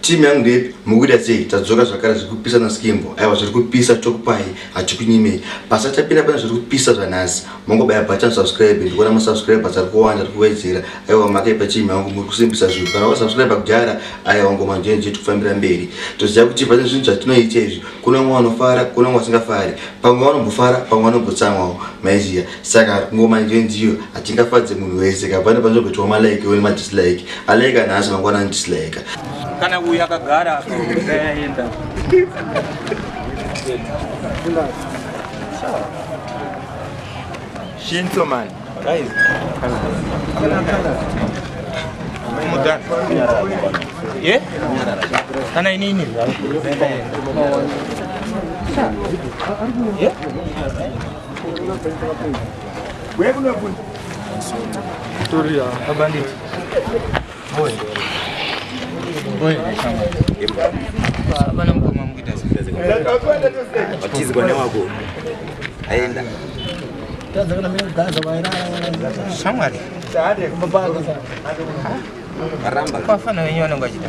Team yangu ndepi mukuita sei tadzoka zvakare zviri kupisa na skimbo aiwa zviri kupisa tokupai hatikunyimei basa tapinda pane zviri kupisa zvanhasi mongobaya button subscribe ndikuona ma subscribers ari kuwanda ari kuwedzera aiwa makaipa team yangu muri kusimbisa zvinhu kana wa subscribe kudhara aiwa ngoma njeni jetu kufambira mberi toziva kuti pane zvinhu zvatinoita izvi kuna vamwe vanofara kuna vamwe vasingafari pamwe vanombofara pamwe vanombotsamwawo maiziya saka ngoma idzo ndiyo hatingafadze munhu wese kapane panozobetwa malike one madislike alike anhasi mangwana anodislike kana uyu akagara akaenda shinso man guys mudhara ye kana inini ye Watizi bwana wako aenda shamwari maramba kwafana wenyu vanenge vachita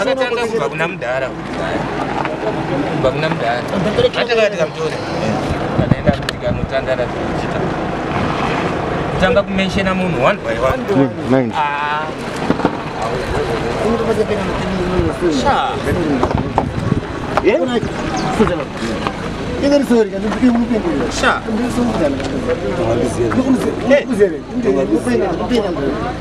Akatanga kubva kuna mudhara kubva kuna mudhara atanga tikamutore kanaenda kuti kanotandara tichita kutanga kumenshena munhu one by one ah. Sure.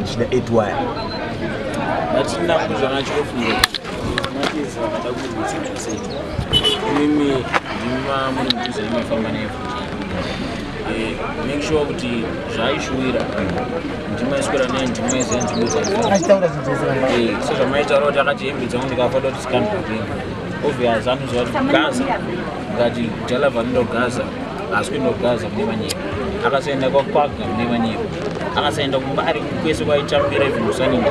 ndichida 8 waya ndatinakuzvana chikofunga matizi vakada kuitika sei imimi ndima muri mudhuze imafamba nefu eh, make sure kuti zvaishuwira ndima iswera nei ndima izei nzvimbo dzaiaitaura eh, sezvamaitaura kuti akati hembe dzangu ndikafa doti sikandipinga obvious anozova kuti gaza Ngati jala vanoenda kuGaza, haasi kuenda kuGaza mune vanyika. Akasaenda kwaKwaga mune vanyika. Akasaenda kumba ari kwese kwaitambira even kusaninga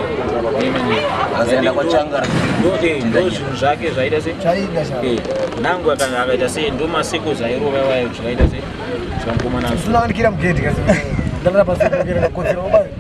mune vanyika. Akasaenda kwaChangara. Ndo eh ndo zvinhu zvake zvaita se. Chaida sha. Eh nangu akanga akaita se ndo maseko zairova wayo zvakaita se. Zvamukomana. Zvinoandikira mugedhi kasi. Ndalapa sekera kotsira obayo.